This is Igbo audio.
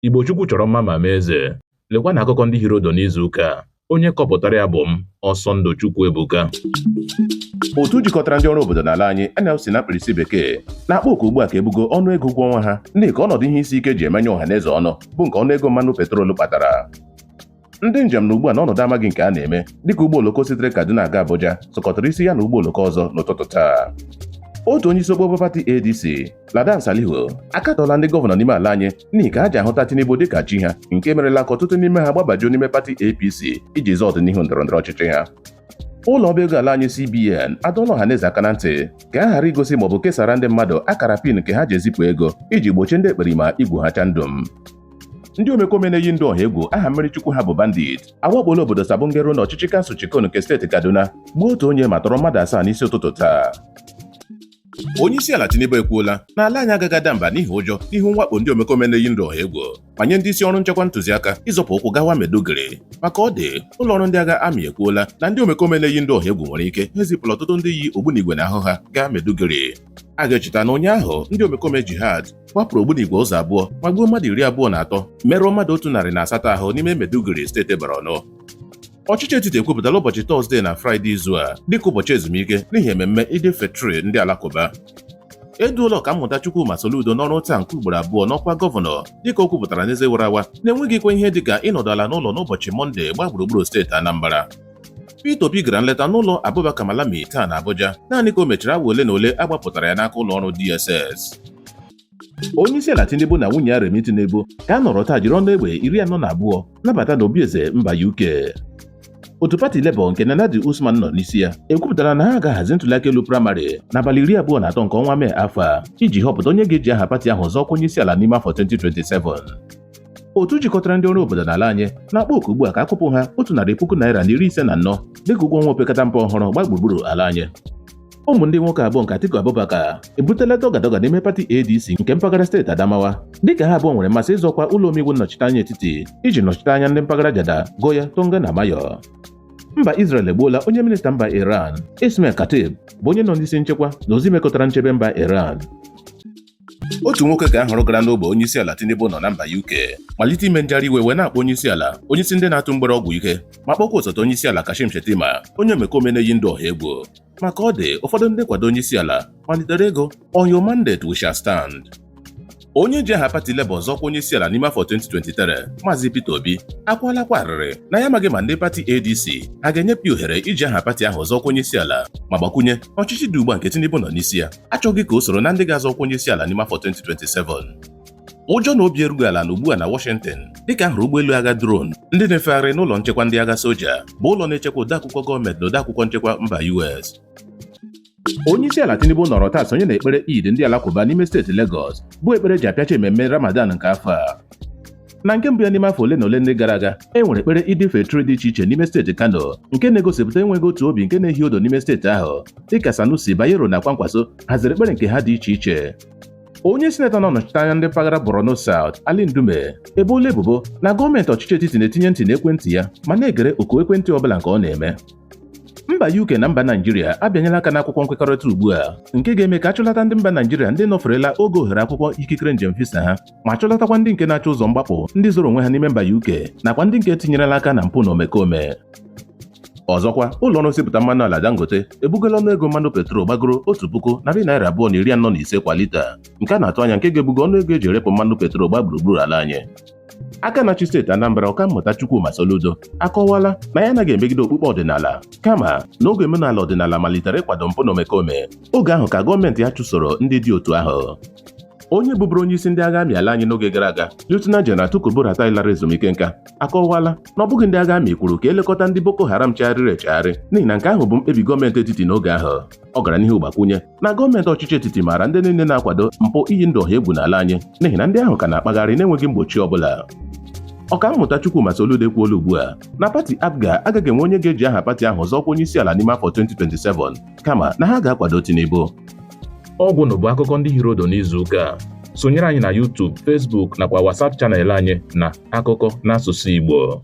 Igbo Chukwu chọrọ mma ma mee eze. Lekwanụ akụkọ ndị hiri ụdụ n'izu ụka a. Onye kọpụtara ya bụ m, Ọsọndụ Chukwuebuka. otu jikọtara ndị ọrụ obodo n'ala anyị NLC na mkpirisi bekee na-akpọ oku ugbu a ka e bugo ọnụ ego ụgwọ ọnwa ha n'ihi ka ọnọdụ ihe isi ike ji emenye ọha na eze ọnụ bụ nke ọnụ ego mmanụ petrol kpatara ndị njem nọ ugbu a n'ọnọdụ amaghị nke a na-eme dịka ụgbọ oloko sitere Kaduna aga Abuja sukọtara isi ya na ụgbọ oloko ọzọ n'ụtụtụ taa otu onye isi okpokpo pati ADC Ladan Salihu akatọọla ndị gọvanọ n'ime ala anyị n'ihi ka ha ji ahụta Tinubu dịka chi ha nke merela ka ọtụtụ n'ime ha gbabajuo n'ime pati APC iji zọọ ọdịnihu ndọrọndọrọ ọchịchị ha ụlọ ọba ego ala anyị CBN adọọla ọha na eze aka na ntị ka ha ghara igosi maọbụ kesara ndị mmadụ akara pin nke ha ji ezipụ ego iji gbochie ndị ekperima igwu ha chandum ndị omekome na-eyi ndụ ọha egwu aha mmiri chukwu ha bụ bandit awakpola obodo Sabon Gero na ọchịchị kansụl Chikun nke steeti Kaduna gbuo otu onye ma tọrọ mmadụ asaa n'isi ụtụtụ taa onye isi ala Tinubu ekwuola na ala anyị agaghị ada mba n'ihi ụjọ n'ihu mwakpo ndị omekome na-eyi ndụ ọha egwu ma nye ndị isi ọrụ nchekwa ntụziaka ịzọpụ ụkwụ gawa Maiduguri maka ọ dị ụlọ ọrụ ndị agha amị ekwuola na ndị omekome na-eyi ndụ ọha egwu nwere ike ha ezipụla ọtụtụ ndị yi ogbunigwe n'ahụ ha gaa Maiduguri a ga-echeta na ụnyaahụ ndị omekome jihad gbapụrụ ogbunigwe ụzọ abụọ ma gbuo mmadụ iri abụọ na atọ merụọ mmadụ otu narị na asatọ ahụ n'ime Maiduguri steeti Borno ọchịchị etiti ekwupụtala ụbọchị tọzdee na fraịde izu a dịka ụbọchị ezumike n'ihi ememme Eid Fitri ndị alakụba eduola ọkammụta Chukwuma Soludo n'ọrụ taa nke ugboro abụọ n'ọkwa gọvanọ dịka o kwupụtara n'eze wara awa na e nweghịkwa ihe dịka ịnọdụ ala n'ụlọ n'ụbọchị mọnde gbaa gburugburu steeti Anambra Peter Obi gara nleta n'ụlọ Abubakar Malami taa na Abuja naanị ka o mechara awa ole na ole a gbapụtara ya n'aka ụlọ ọrụ DSS. Onye isi ala Tinubu na nwunye ya Remi Tinubu ka a nọrọ taa jiri ọnụ egbe iri anọ na abụọ nabata n'obi eze mba UK. Otu pati Labour nke Nenadi Usman nọ n'isi ya ekwupụtara na ha ga-ahazi ntụliaka elu praịmarị n'abalị iri abụọ na atọ nke ọnwa Mee afọ a iji họpụta onye ga-eji aha pati ahụ zọọ ọkwa onye isi ala n'ime afọ 2027. otu jikọtara ndị ọrụ obodo n'ala anyị na-akpọ oku ugbu a ka a kwụpụ ha otu narị puku naira na iri ise na anọ dịka ụgwọ ọnwa opekata mpe ọhụrụ gbaa gburugburu ala anyị ụmụ ndị nwoke abụọ nke Atiku Abubakar ebutela dọgadọga n'ime pati ADC nke mpaghara steeti Adamawa dịka ha abụọ nwere mmasị ịzọ ọkwa ụlọ omeiwu nnọchiteanya etiti iji nọchite anya ndị mpaghara Jada Goya Tonga na Mayo mba Israel egbuola onye minista mba Iran Ismail Khatib bụ onye nọ n'isi nchekwa na ozi mekọtara nchebe mba Iran otu nwoke ka a hụrụ gara n'ogbe onyeisiala Tinubu nọ na mba UK malite ime njegharị iwe wee na-akpọ onyeisiala onyeisi ndị na-atụ mgbere ọgwụ ike ma kpọkwa osote onyeisiala Kashim Shettima onye omekome na-eyi ndụ ọha egwu maka ọ dị ụfọdụ ndị nkwado onyeisiala malitere ịgụ on your mandate we shall stand onye ji aha pati Labour zọọ ọkwa onyeisiala n'ime afọ 2023 Maazị Peter Obi akwaalakwa arịrị na ya amaghị ma ndị pati ADC ha ga-enyepụ ya ohere iji aha pati ahụ zọọ ọkwa onyeisiala ma gbakwunye na ọchịchị dị ugbu a nke Tinubu nọ n'isi ya achọghị ka o soro na ndị ga-azọ ọkwa onye isi ala n'ime afọ 2027 ụjọ na obi erughị ala na ugbu a na Washington dịka ahụrụ ụgbọelu agha drone ndị na-efegharị n'ụlọ nchekwa ndị agha soja bụ ụlọ na-echekwa odeakwụkwọ gọọmenti na odeakwụkwọ nchekwa mba US onye isi ala Tinubu nọrọ taa sonye na ekpere Eid ndị alakụba n'ime steeti Lagos bụ ekpere ji apịachi ememme Ramadan nke afọ a na nke mbụ ya n'ime afọ ole na ole ndị gara aga e nwere ekpere Eid Fitr dị iche iche n'ime steeti Kano nke na-egosipụta enweghị otu obi nke na-ehi odo n'ime steeti ahụ dịka Sanusi Bayero na Kwankwaso haziri ekpere nke ha dị iche iche onye sinetọ na-anọchite anya ndị mpaghara Borno South Ali Ndume ebola ebubo na gọọmenti ọchịchị etiti na-etinye ntị n'ekwentị ya ma na-egere oku ekwentị ọbụla nke ọ na-eme mba UK na mba Naijiria abịanyela aka n'akwụkwọ nkwekọrịta ugbu a nke ga-eme ka achụlata ndị mba Naijiria ndị nọferela oge ohere akwụkwọ ikikere njem visa ha ma chụlatakwa ndị nke na-achọ ụzọ mgbapụ ndị zoro onwe ha n'ime mba UK nakwa ndị nke tinyerela aka na mpụ na omekome ọzọkwa ụlọ ọrụ nsipụta mmanụ ala Dangote ebugola ọnụ ego mmanụ petrol gbagoro otu puku narị naira abụọ na iri anọ na ise kwa lita nke a na-atụ anya nke ga-ebugo ọnụ ego eji erepụ mmanụ petrol gba gburugburu ala anyị aka na-achị steeti Anambra ọkammụta Chukwuma Soludo akọwala na ya anaghị emegide okpukpe ọdịnala kama na oge omenala ọdịnala malitere ịkwado mpụ na omekome oge ahụ ka gọọmenti ya chụsoro ndị dị otu ahụ onye bụbụrụ onye isi ndị agha amị ala anyị n'oge gara aga Lieutenant General Tukur Buratai lara ezumike nka akọwala na ọ bụghị ndị agha amị kwuru ka elekọta ndị Boko Haram chegharịrị echegharị n'ihi na nke ahụ bụ mkpebi gọọmenti etiti n'oge ahụ ọ gara n'ihu gbakwunye na gọọmenti ọchịchị etiti maara ndị niile na-akwado mpụ iyi ndụ ọha egwu n'ala anyị n'ihi na ndị ahụ ka na-akpagharị n'enweghị mgbochi ọ bụla ọkammụta Chukwuma Soludo ekwuola ugbu a na pati APGA agaghị enwe onye ga-eji aha pati ahụ zọọ ọkwa onye isi ala n'ime afọ 2027 kama na ha ga-akwado Tinubu. Ọgwụnụ bụ akụkọ ndị hiri odo n'izu ụka a. Sonyere anyị na YouTube, Facebook nakwa WhatsApp channel anyị na akụkọ n'asụsụ Igbo.